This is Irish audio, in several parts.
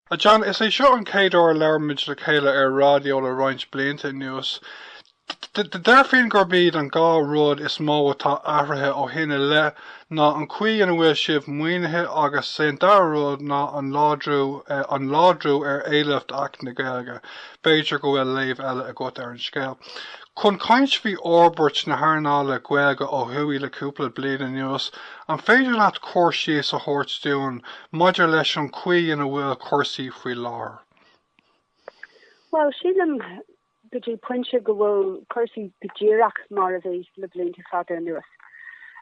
A John, is é seo an chéad uair ar labhair muid le chéile ar raidió le roinnt blianta anuas. Déarfainn gurb iad an dhá rud is mó atá athraithe ó shin i leith ná an chaoi ina bhfuil sibh maoinithe agus 's é an dara rud ná an láidriú, an láidriú ar éileamh d'Acht na Gaeilge. B'fhéidir go bhfuil léamh eile agat ar an scéal. Chun caint faoi fhorbairt na hearnála Gaeilge ó thuaidh le cúpla bliain anuas, an féidir leat cur síos a thabhairt dúinn maidir leis an chaoi ina bhfuil cúrsaí faoi láthair? Bhuel, sílim go dtí pointe go bhfuil cúrsaí go díreach mar a bhí le blianta fada anuas,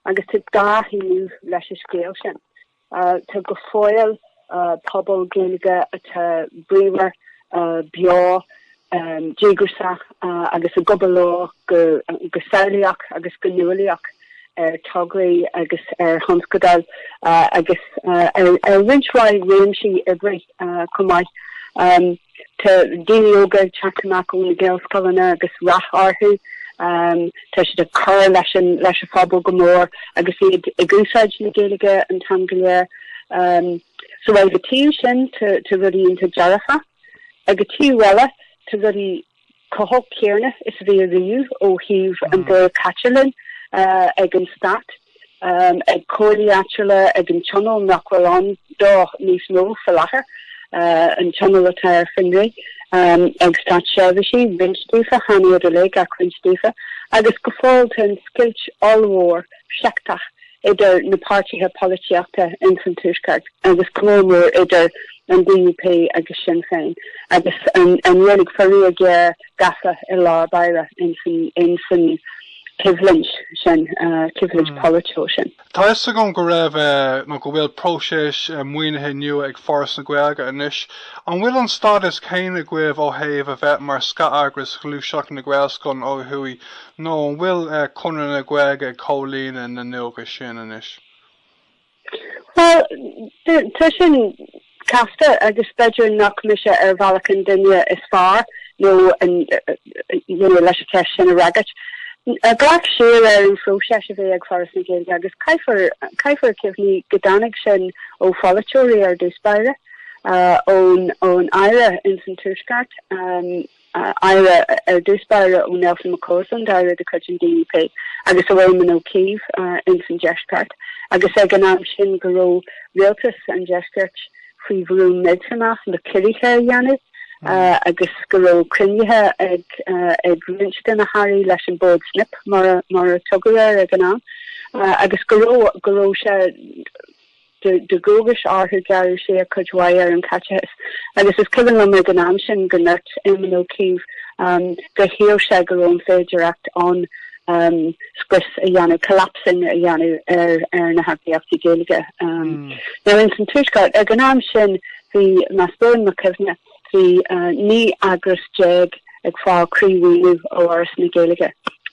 agus tá dhá thaobh leis an scéal sin. Tá go fóill pobail Gaeilge atá bríomhar, beo, díograiseach agus ag obair leo go samhlaíoch agus go nuálaíoch ar tograí agus ar thionscadail agus ar roinnt mhaith réimsí oibre. chomh maith. Tá daoine óga ag teacht amach ó na Gaelscoileanna agus rath orthu. Tá siad ag cur leis an phobal go mór agus iad ag úsáid na Gaeilge an t-am go léir. So ag an taobh sin tá rudaí iontach dearfacha. Ag an taobh eile tá rudaí go hóbair chomh céanna is a bhí ariamh ó thaobh an dóigh a gcaitear linn ag an Stát, ag comhairlí áitiúla, ag an Tionól nach bhfuil ann dó níos mó faoi láthair, an Tionól atá ar fionraí, ag státseirbhísigh, roinnt daofa, chan iad uilig ach roinnt daofa, agus go fóill tá an scoilt ollmhór sheicteach. idir na páirtithe polaitíochta ins an Tuaisceart agus go mór mór idir an DUP agus Sinn Féin agus an Ghaeilge faraor géar gafa i lár báire ins an choimhlint sin, coimhlint pholaitiúil sin. Tá fhios agam go raibh nó go bhfuil próiseas maoinithe nua ag Foras na Gaeilge anois. An bhfuil an stádas céanna agaibh ó thaobh a bheith mar scatheagras Ghluaiseacht na Gaelscoileanna ó thuaidh Nó an bhfuil Conradh na Gaeilge ag comhlíonadh na ndualgas sin anois? Bhuel, tá sin casta agus b'fhéidir nach mise ar bhealach an duine is fearr nó leis an cheist sin a fhreagairt. Ag dul siar ar an phróiseas a bhí ag Foras na Gaeilge agus caithfear cuimhniú go dtáinig sin ó pholaiteoirí ar dtús báire, ón Aire ins an Tuaisceart, aire ar dtús báire ó Nelson McCausland, aire de chuid an DUP, agus ó Éamon Ó Cuív ins an deisceart, agus ag an am sin go raibh rialtas an deiscirt faoi bhrú millteanach le ciorruithe a dhéanamh agus go raibh cruinnithe ag roinnt de na hairí leis an Bhord Snip mar a tugadh air ag an am agus go raibh sé de dhualgas orthu. Gearradh siar cuid mhaith ar an chaiteachas agus is cuimhin liom ag an am sin go ndúirt Éamon Ó Cuív go shíl sé go raibh an féidireacht ann scrios a dhéanamh, collapsing a dhéanamh ar na heagraíochtaí Gaeilge. Now ins an Tuaisceart ag an am sin bhí más buan mo chuimhne, Bhí 19 eagras ag fáil croímhaoiniú ó Fhoras na Gaeilge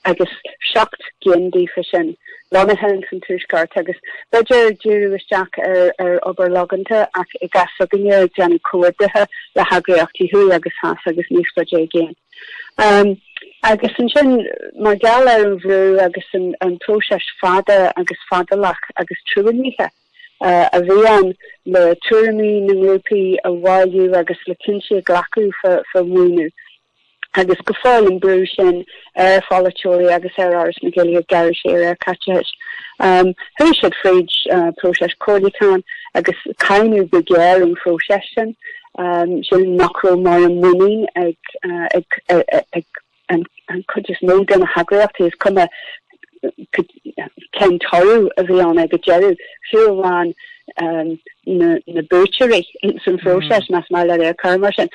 agus seacht gcinn díofa sin lonnaithe ins an Tuaisceart agus b'fhéidir díriú isteach ar obair logánta ach i gcás s'againne ag déanamh comhoibrithe le heagraíochtaí thuaidh agus theas agus níos faide i gcéin. Agus ansin mar gheall ar an bhrú agus an próiseas fada agus fadálach agus truaillithe, a bhí ann le tuairimí na ngrúpaí a bhailiú agus le cinntí a ghlacadh fá mhaoiniú agus go fóill an brú sin ar pholaiteoirí agus ar Fhoras na Gaeilge gearradh siar ar chaiteachas. Chuaigh siad fríd próiseas comhairliúcháin agus cáineadh go géar an próiseas sin, sin nach raibh mórán muinín ag an chuid is mó de na heagraíochtaí, is cuma cén toradh a bhí ann ag an deireadh, fiú amháin na buaiteoirí san phróiseas, más maith linn é a chur mar sin,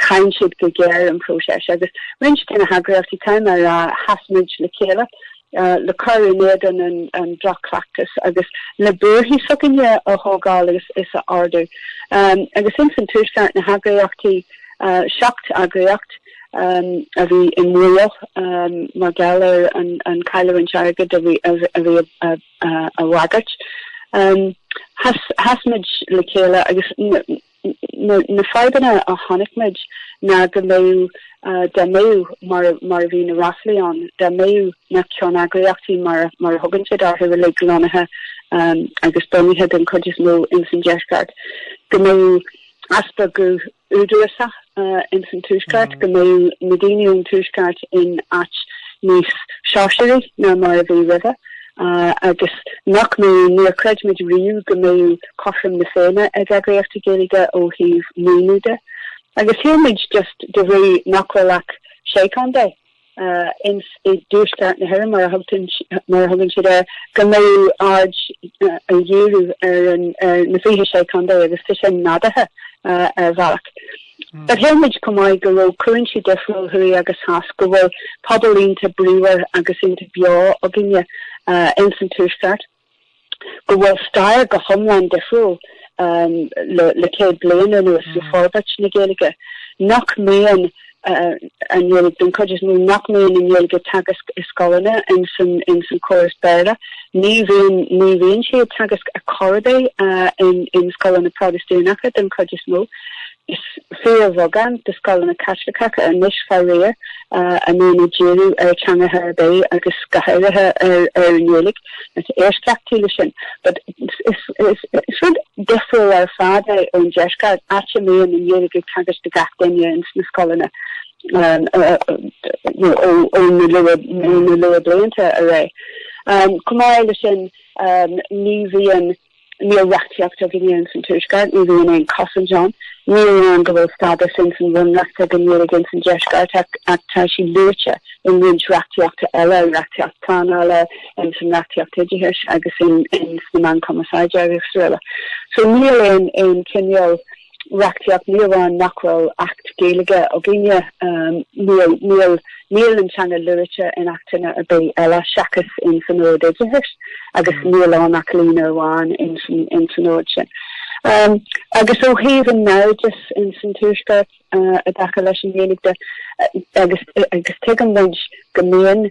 cháin siad go géar an próiseas. Agus roinnt de na heagraíochtaí, caithfidh mé a rá, sheas muid le chéile. le cur in éadan an droch-chleachtais agus le buarthaí s'againne a thógáil is a ardú. Agus ins an Tuaisceart, na heagraíochtaí, seacht eagraíocht, a bhí i mbaol mar gheall ar an chailliúint airgid a bhí á bhagairt, sheas muid le chéile agus. Na fadhbanna a chonaic muid ná go mbeadh, dá mbeadh, mar a bhí na ráflaí ann, dá mbeadh na ceanneagraíochtaí, mar a thugann siad orthu uilig, lonnaithe agus bunaithe den chuid is mó ins an deisceart, go mbeadh easpa guth údarásach. uh, ins an Tuaisceart, go mbeadh na daoine ón Tuaisceart in áit níos sóisearaí ná mar a bhí roimhe, uh, agus nach mbeadh, níor chreid muid riamh go mbeadh cothrom na Féinne ag eagraíochtaí Gaeilge ó thaobh maoiniú de. Agus shíl muid just de bhrí nach bhfuil ach sé contae i dtuaisceart na hÉireann, mar a thugann siad air, go mbeadh aird á dhíriú ar na 26 contae agus tá sin nádúrtha ar bhealach. Ach shíl muid chomh maith go raibh cúinsí difriúil thuaidh agus theas, go bhfuil pobal iontach bríomhar agus iontach beo againne ins an tuaisceart. go bhfuil stair go hiomlán difriúil le céad bliain anuas le forbairt na Gaeilge, nach mbíonn an Ghaeilge, den chuid is mó, nach mbíonn an Ghaeilge teagasc i scoileanna ins an chóras Béarla. Ní bhíonn, ní bhíonn siad teagasc a chor ar bith in scoileanna Protastúnacha den chuid is mó. Is fíorbheagán de scoileanna Caitliceacha anois faraor a mbíonn ag díriú ar theangacha ar bith agus go háirithe ar an nGaeilge. Tá eisceachtaí leis sin. But is rud difriúil ar fad é ón deisceart, áit a mbíonn an Ghaeilge ag teagasc do gach duine ins na scoileanna ó na luathbhlianta ar aghaidh. Chomh maith le sin ní bhíonn. Níl reachtaíocht againne ins an Tuaisceart, ní bhíonn aon chosaint ann. Ní hionann go bhfuil stádas ins an Bhunreacht ag an nGaeilge ins an Deisceart ach tá sí luaite in roinnt reachtaíochta eile, reachtaíocht pleanála, ins an reachtaíocht oideachais agus ins na meáin chumarsáide agus araile. So níl aon aon chineál. reachtaíocht, ní amháin nach bhfuil Acht Gaeilge againne, níl an teanga luaite in Achtanna ar bith eile seachas in san Ord Oideachais agus níl ann ach líne amháin in san Ord sin. Agus ó thaobh an naimhdeas in san Tuaisceart i dtaca leis an nGaeilge de, agus tuigeann muid go mbíonn,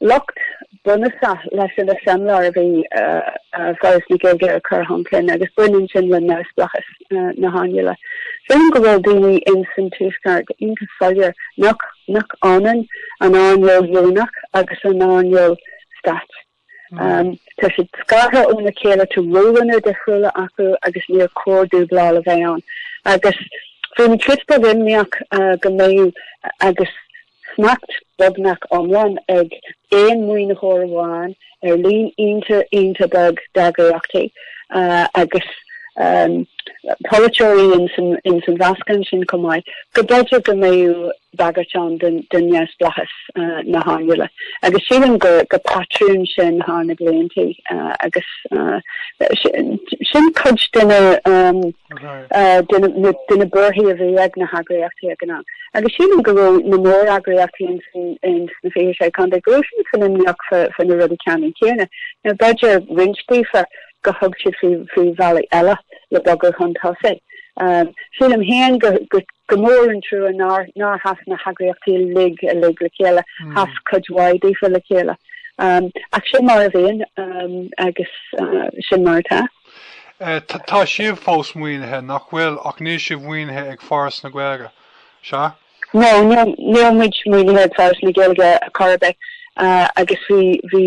Locht bunúsach leis an eiseamláir a bhí Foras na Gaeilge ag cur chun cinn agus baineann sin le neamhspleáchas na hearnála. Sílim go bhfuil daoine ins an Tuaisceart iontach soiléir nach ionann an earnáil dheonach agus an earnáil stáit. Tá siad scartha óna chéile, tá rólanna difriúla acu agus níor chóir dúbláil a bheith ann. Agus bhí mé giota imníoch go mbeadh agus. Smacht beagnach iomlán ag aon maoinitheoir amháin ar líon iontach, iontach beag d'eagraíochtaí agus polaiteoirí ins an mheascán sin chomh maith, go mb'fhéidir go mbeadh bagairt ann do neamhspleáchas na hearnála. Agus sílim gur patrún sin thar na bliantaí agus sin cuid de na. de na buarthaí a bhí ag na heagraíochtaí ag an am. Agus sílim go raibh na móreagraíochtaí ins na 26 contae, go raibh siadsan imníoch faoi na rudaí ceannann céanna. Now b'fhéidir roinnt daofa gur thug siad faoi bhealaí eile le bogadh chun tosaigh. Sílim féin gur mór an trua nár sheas na heagraíochtaí uilig uilig le chéile, sheas cuid mhaith daofa le chéile. Ach sin mar a bhíonn agus sin mar atá. Tá sibh fós maoinithe, nach bhfuil? Ach níl sibh maoinithe ag Foras na Gaeilge, sea? No, níl muid maoinithe ag Foras na Gaeilge chor ar bith agus bhí, bhí,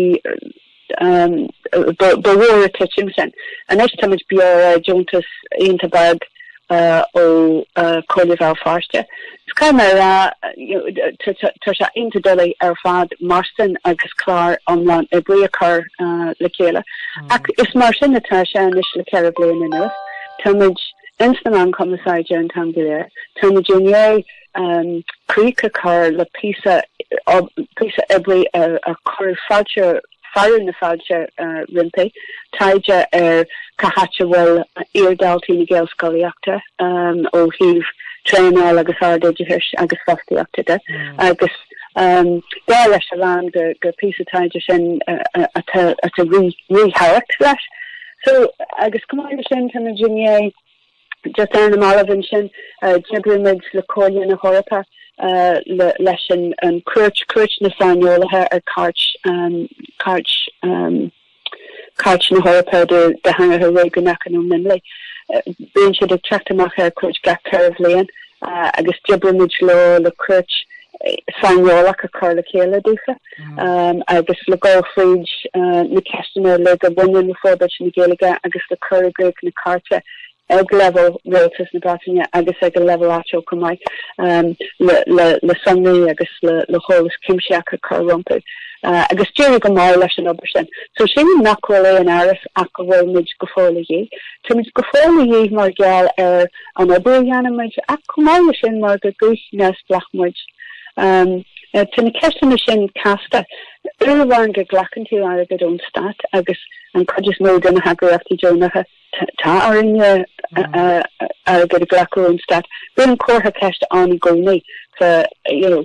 ba mhór an titim sin. Anois tá muid beo ar deontas iontach beag ó Comhairle Bhéal Feirste. Is caithfidh mé a rá tá sé iontach doiligh ar fad marstain agus clár iomlán oibre a chur le chéile. Ach is mar sin atá sé anois le ceithre bliana anuas. Tá muid ins na meáin cumarsáide an t-am go léir. Tá muid i ndiaidh críoch a chur le píosa oibre a cuireadh fáilte fearadh na fáilte roimpi, taighde ar cá háit a bhfuil iardhaltaí na Gaelscolaíochta ó thaobh traenáil agus ardoideachais agus fostaíochta de agus dar leis a lán gur píosa taighde sin atá ríthábhacht leis so agus chomh maith leis sin tá muid i ndiaidh Just ar na mallaibh ansin d'oibrigh muid le Comhairle na hEorpa leis an chuairt, cuairt na Saineolaithe ar Cairt, Cairt, Cairt na hEorpa do Theangacha Réigiúnacha nó Mionlaigh. Bíonn siad ag teacht amach ar cuairt gach ceithre bhliain. agus d'oibrigh muid leo le cuairt saineolach a chur le chéile daofa agus le dul fríd na ceisteanna uilig a bhaineann le forbairt na Gaeilge agus le cur i gcrích na cairte ag leibhéal Rialtas na Breataine agus ag an leibhéal áitiúil chomh maith le sonraí agus le heolas cuimsitheach a chur rompu agus d'éirigh go maith leis an obair sin. So sin nach bhfuil aon amhras ach go bhfuil muid go fóill a dhíth. Táimid go fóill a dhíth mar gheall ar an obair a dhéanann muid ach chomh maith leis sin mar gur guth neamhspleách muid. Tá na ceisteanna sin casta. Uair amháin go nglacann tú airgead ón stát agus an chuid is mó de na heagraíochtaí deonacha, tá orainn airgead a ghlacadh ón stát, bíonn an comhartha ceiste ann i gcónaí, you know,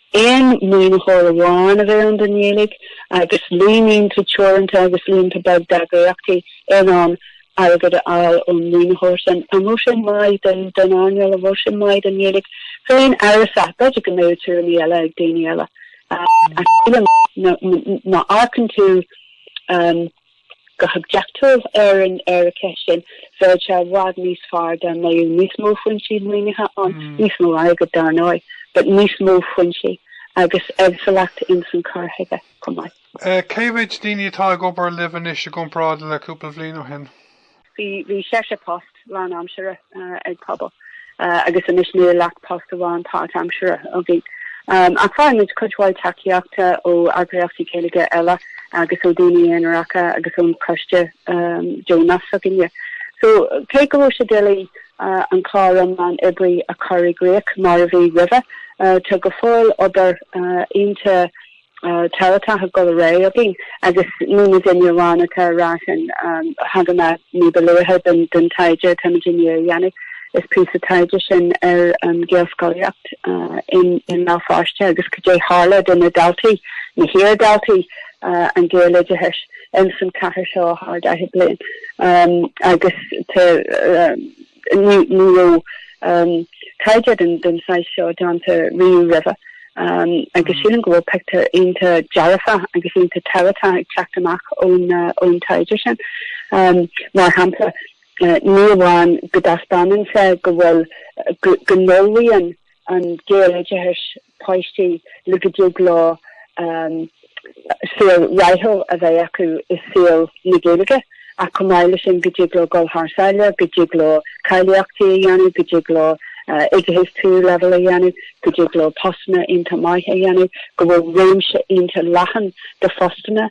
Aon maoinitheoir amháin a bheith ann don Ghaeilge agus líon iontach teoranta agus iontach beag d'eagraíochtaí in ann airgead a fháil ón maoinitheoir sin. An bhfuil sé maith don earnáil? An bhfuil sé maith don Ghaeilge féin? Amhrasach. B'fhéidir go mbeadh tuairimí eile ag daoine eile ach sílim má amharcann tú go hoibiachtúil ar an cheist sin, bheadh sé i bhfad níos fearr dá mbeadh níos mó foinsí maoinithe ann, níos mó airgid dar ndóigh, but níos mó foinsí agus éagsúlacht ins an cur chuige chomh maith. Cé mhéid daoine atá ag obair libh anois i gcomparáid le cúpla bhliain ó shin? Bhí sé phost lánaimseartha ag Pobal agus anois níl ach post amháin páirtaimseartha againn. Ach faigheann muid cuid mhaith tacaíochta ó eagraíochtaí Gaeilge eile agus ó dhaoine aonaracha agus ón choiste deonach s'againne. So, cé go raibh sé doiligh an clár iomlán oibre a chur i gcrích mar a bhí roimhe, tá go fóill obair iontach tábhachtach ag dul ar aghaidh againn agus ní hé an t-aon ní amháin atá ar ais ann. Thagann an ní ba luaithe den taighde atáimid i ndiaidh a dhéanamh is píosa taighde sin ar an Gaelscolaíocht i mBéal Feirste agus goidé a tharla do na daltaí, na hiar-dhaltaí, an Gaeloideachas ins an chathair seo thar 40 bliain agus tá Ní raibh taighde den saghas seo déanta riamh roimhe agus sílim go bhfuil pictiúr iontach dearfa agus iontach tábhachtach ag teacht amach ón taighde sin. Mar shampla, ní amháin go dtaispeánann sé go bhfuil, go n-ullmhaíonn an Gaeloideachas páistí le go dtig leo saol rathúil a bheith acu i saol na Gaeilge ach chomh maith leis sin go dtig leo dul thar sáile, go dtig leo cáilíochtaí a dhéanamh, go dtig leo oideachas tríú leibhéal a dhéanamh, go dtig leo postanna iontach maithe a dhéanamh, go bhfuil réimse iontach leathan de phostanna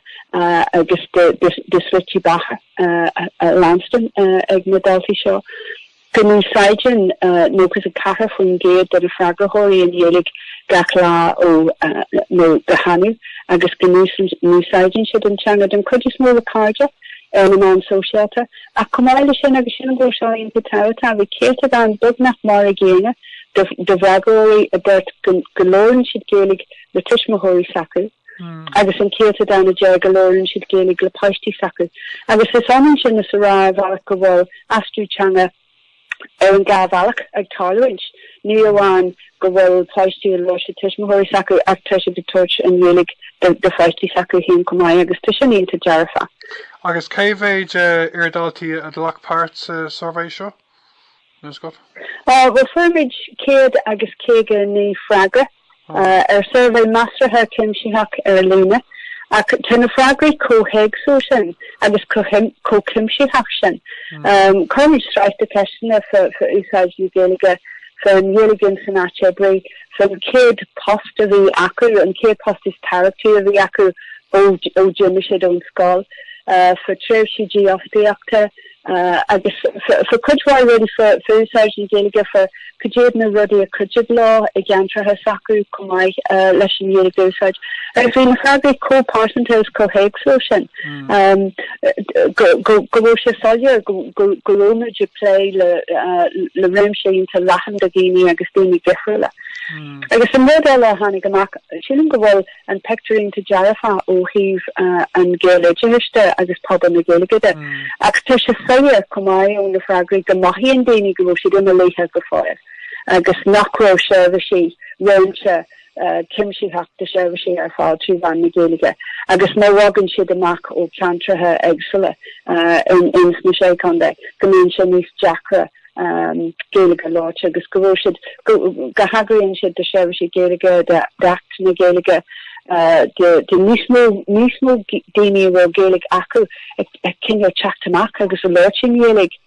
agus de shlite beatha á leanstan ag na daltaí seo. go n-úsáideann 94% de na freagróirí an Ghaeilge gach lá ó nó go hannamh agus go n-úsáideann siad an teanga den chuid is mó le cairde ar na meáin sóisialta ach chomh maith leis sin agus sílim go bhfuil seo iontach tábhachtach, bhí céatadán beagnach mar an gcéanna de fhreagróirí a dúirt go labhrann siad Gaeilge le tuismitheoirí s'acu agus an céatadán a deir go labhrann siad Gaeilge le páistí s'acu agus is ionann sin is a rá ar bhealach go bhfuil aistriú teanga ar an dá bhealach ag tarlúint. Ní amháin go bhfuil páistí ag labhairt le tuismitheoirí s'acu ach tá siad ag tabhairt an Ghaeilge do pháistí s'acu féin chomh maith agus tá sin iontach dearfa. Agus cé mhéid iardhaltaí a ghlac páirt sa suirbhé seo? Bhuel, fuair muid céad agus caoga naoi freagra ar shuirbhé measartha cuimsitheach ar líne, ach tá na freagraí chomh héagsúil sin agus chomh cuimsitheach sin. Chuir muid sraith de cheisteanna faoi úsáid na Gaeilge, faoin Ghaeilge san áit oibre, faoin chéad post a bhí acu, an chéad post is tábhachtaí a bhí acu ó d'imigh siad ón scoil, faoi thréimhsí dífhostaíochta, agus fa cuid mhaith rudaí fa úsáid na Gaeilge, fa ca dtéad na rudaí a chuideodh leo i gceantracha s'acu chomh maith, leis an Ghaeilge a úsáid. Agus bhí na freagraí chomh pearsanta is chomh héagsúil sin go bhfuil sé soiléir go raibh muid ag plé le réimse iontach leathan de dhaoine agus daoine difriúla. Agus an rud eile a tháinig amach sílim go bhfuil an pictiúr iontach dearfach ó thaobh an Ghaeloideachais de agus pobal na Gaeilge de. Ach tá sé soiléir go maith ó na freagraí go mothaíonn daoine go raibh siad imeallaithe go fóill agus nach raibh seirbhísí, réimse cuimsitheach de sheirbhísí ar fáil trí mheán na Gaeilge agus nuair a bhogann siad amach ó cheantracha éagsúla ins na Sé Chontae go mbíonn sé níos deacra Gaeilge a labhairt agus go raibh siad, go n-éagaoineann siad do sheirbhísí Gaeilge, d'Acht na Gaeilge, do níos mó, níos mó daoine a raibh Gaeilge acu ag cinneadh teacht amach agus a labhairt i nGaeilge.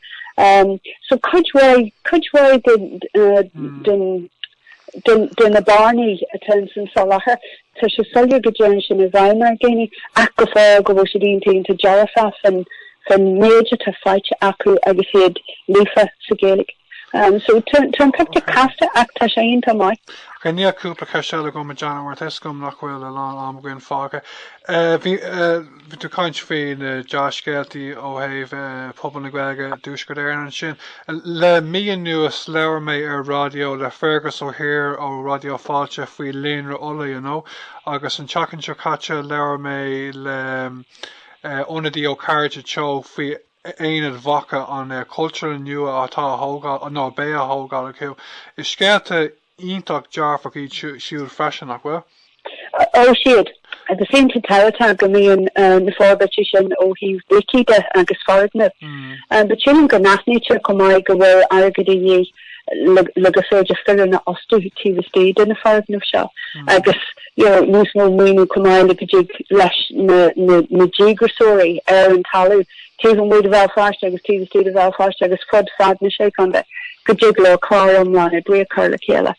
So cuid mhaith, cuid mhaith den, de na bearnaí atá ins an soláthar. Tá sé soiléir go dtéann sin i bhfeidhm ar dhaoine ach go fóill go bhfuil siad iontach, iontach dearfach faoin méid atá faighte acu agus iad líofa sa Ghaeilge. So tá an pictiúr casta ach tá sé iontach maith. Ok, níl ach cúpla ceist eile agam a Janet mar tá 'fhios agam nach bhfuil a lán am againn fágtha. Bhí tú ag caint faoi na dea-scéaltaí ó thaobh phobal na Gaeilge i dTuaisceart Éireann ansin. Le mí anuas labhair mé ar raidió le Fergus Ó hÍr ó Raidió Fáilte faoi Líonra Uladh you know agus an tseachtain seo caite labhair mé le hionadaí ó Cairde Teo faoi a Aonach Mhacha, an chultúrlann nua atá á thógáil nó a bheidh á thógáil acu. Is scéalta iontach dearfach iad siúd freisin, nach bhfuil? Ó is ea. Tá sé iontach tábhachtach go mbíonn na forbairtí sin ó thaobh brící de agus foirgneamh. But sílim go n-aithnítear chomh maith go bhfuil airgead de dhíth. le gur féidir foireann a fhostú taobh istigh de na foirgnimh seo agus níos mó maoiniú chomh maith le go dtig leis na díograiseoirí ar an talamh taobh amuigh de Bhéal Feirste agus taobh istigh de Bhéal Feirste agus fud fad na sé chontae go dtig leo clár iomlán oibre a chur le chéile.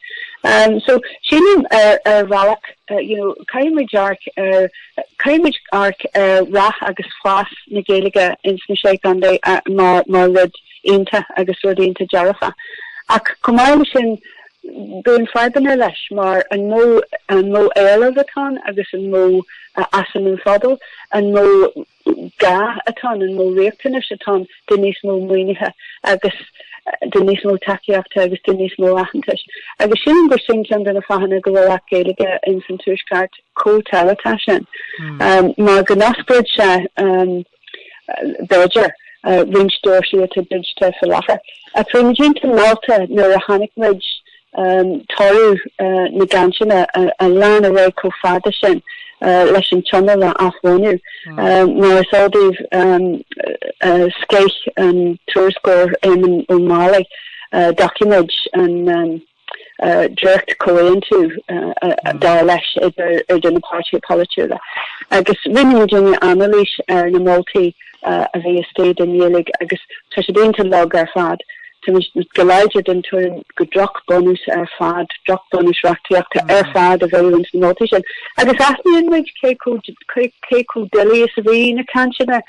So sílim ar bhealach caithfidh muid caithfidh muid amharc ar rath agus fás na Gaeilge ins na sé chontae mar rud iontach agus rud iontach dearfach ach chomh maith leis sin bíonn fadhbanna leis mar an mó, an mó éileamh atá ann agus an mó a fhásann an pobal, an mó gá atá ann, an mó riachtanais atá ann do níos mó maoinithe agus do níos mó tacaíochta agus do níos mó aitheantais. Agus sílim gur sin ceann de na fáthanna go bhfuil Acht Gaeilge ins an Tuaisceart chomh tábhachtach sin. Mar go n-osclódh sé. b'fhéidir, roinnt doirsí atá druidte faoi láthair. Bhí muid iontach meallta nuair a chonaic muid toradh na gcainteanna a lean ar aghaidh chomh fada sin leis an Tionól a athbhunú. Mar is eol daoibh scéith an tuairisceoir Éamonn Ó Máille doiciméad an. dréacht-chomhaontú, dar leis, idir na páirtithe polaitiúla agus rinne muidinne anailís ar na moltaí a bhí istigh don Ghaeilge agus tá siad iontach lag ar fad. Táimid go láidir den tuairim gur drochbhunús ar fad, drochbhunús reachtaíochta ar fad a bheadh i roinnt de na moltaí sin agus aithníonn muid cé chomh doiligh is a bhí na cainteanna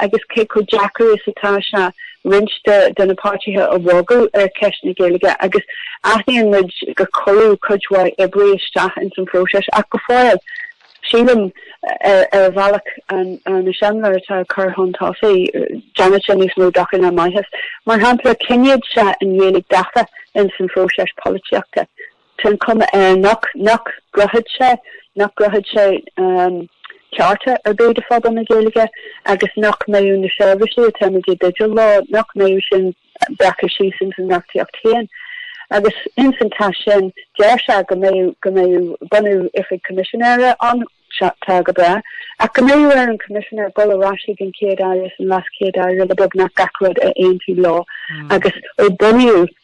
agus cé chomh deacair is atá sé. roinnt de na páirtithe a bhogadh ar cheist na Gaeilge agus aithníonn muid gur cuireadh cuid mhaith oibre isteach ins an phróiseas ach go fóill, sílim, ar bhealach san am i láthair atá ag cur chun tosaigh, déanfadh sé níos mó dochair ná maitheas. Mar shampla, coinneodh sé an Ghaeilge gafa ins an phróiseas polaitíochta. Tá an chuma air nach gcruthódh sé, nach gcruthódh sé cearta ar bith do phobal na Gaeilge agus nach mbeadh na seirbhísí atá muid i dteideal leo, nach mbeadh sin breactha síos ins an reachtaíocht féin. Agus ins an téacs sin deir sé go mbeadh bunú Oifig Coimisinéara ann. Sea, tá go breá. Ach go mbeadh ar an Choimisinéir dhul ar ais chuig an Chéad Aire is an Leas Chéad Aire le beagnach gach rud a aontú leo agus ó bunaíodh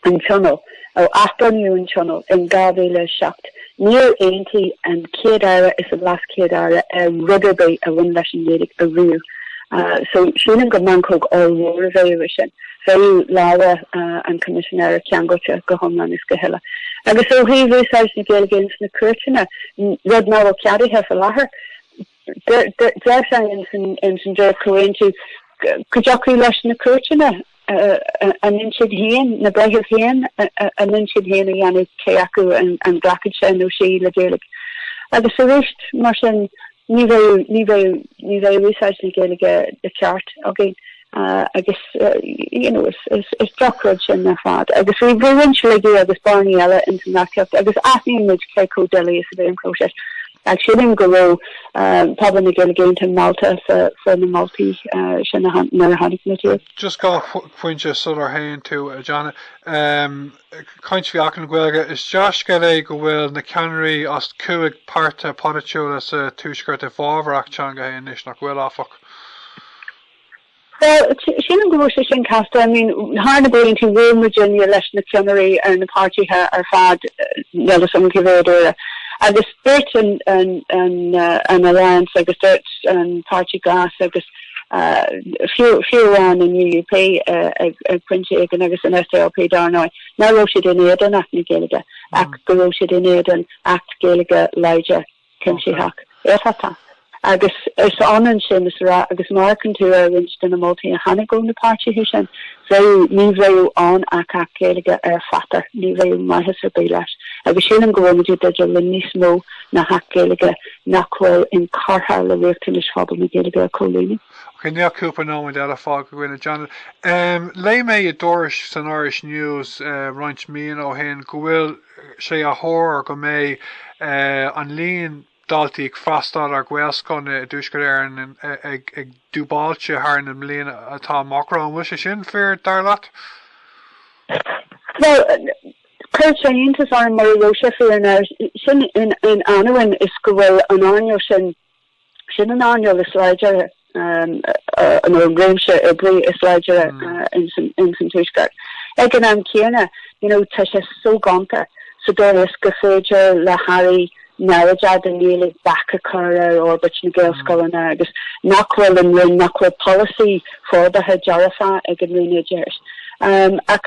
an Tionól, ó athbhunaíodh an Tionól in 2007, níor aontaigh an Chéad Aire is an Leas Chéad Aire ar rud ar bith a bhain leis an Ghaeilge ariamh. So, sílim gur meancóg ollmhór a bheadh ansin. Bheadh lámha an Choimisinéara ceangailte go hiomlán is go huile agus ó thaobh úsáid na Gaeilge ins na cúirteanna, rud nach bhfuil ceadaithe fá láthair. Deir sé ins an dréacht-chomhaontú go dtiocfadh leis na cúirteanna a n-intinn féin, na breithimh féin a n-intinn féin a dhéanamh cé acu an nglacfadh sé nó sí le Gaeilge. Agus arís, mar sin, ní bheidh úsáid na Gaeilge de cheart againn. agus is drochrud sin ar fad agus bhí roinnt laigí agus bearnaí eile ins an reachtaíocht agus aithníonn muid cé chomh doiligh is a bhí an próiseas. Ach sílim go raibh pobal na Gaeilge iontach meallta fá na moltaí sin nuair a chonaic muid iad. Just dhá phointe sular théann tú a Janet. Caint faoi Acht na Gaeilge, is dea-scéal é go bhfuil na ceannairí as cúig páirtithe polaitiúla sa Tuaisceart i bhfabhar acht teanga féin anois, nach bhfuil, áfach? Bhuel, sílim go raibh sé sin casta. I mean, thar na blianta bhuail muidinne leis na ceannairí ar na páirtithe ar fad, níl 'fhios a'm cá mhéad uaire, agus dúirt an an Alliance agus dúirt an Páirtí Glas agus fiú fiú amháin an UUP ag ag pointe éigin agus an SDLP dar ndóigh, nach raibh siad in éadan Acht na Gaeilge ach go raibh siad in éadan Acht Gaeilge láidir. cuimsitheach, éifeachtach agus is ionann sin is a rá, agus má amharcann tú ar roinnt de na moltaí a tháinig ó na páirtithe sin, bheadh, ní bheadh ann ach Acht Gaeilge ar pháipéar, ní bheadh maitheas ar bith leis. Agus sílim go bhfuilimid i dteideal le níos mó ná hAcht Gaeilge nach bhfuil inchurtha le riachtanais phobal na Gaeilge a chomhlíonadh. Ok, níl ach cúpla nóiméad eile fágtha againn, a Janet. Léigh mé i dtuairisc san Irish News roinnt míonna ó shin go bhfuil sé á thuar go mbeidh an líon daltaí ag freastal ar ghaelscoileanna i dTuaisceart Éireann ag dúbailt thar na blianta atá amach romhainn. An bhfuil sé sin fíor, dar leat? Bhuel, chuirfeadh sé iontas orm mura raibh sé fíor. Sin in ainneoin is go bhfuil an earnáil sin Sin an earnáil is láidre nó an réimse oibre is láidre ins an Tuaisceart. Ag an am céanna, you know, tá sé soghonta sa dóigh is gur féidir le hAirí neamhchairdiúil don Ghaeilge bac a chur ar fhorbairt na Gaelscoileanna agus nach bhfuil an Roinn, nach bhfuil polasaí forbartha dearfach ag an Roinn Oideachais ach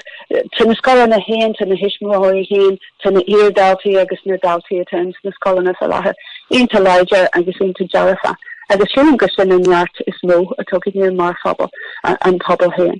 tá na scoileanna féin, tá na tuismitheoirí féin, Tá na hiar-dhaltaí agus na daltaí atá ins na scoileanna fá láthair iontach láidir agus iontach dearfach agus sílim gur sin an neart is mó atá againne mar phobal, an pobal féin.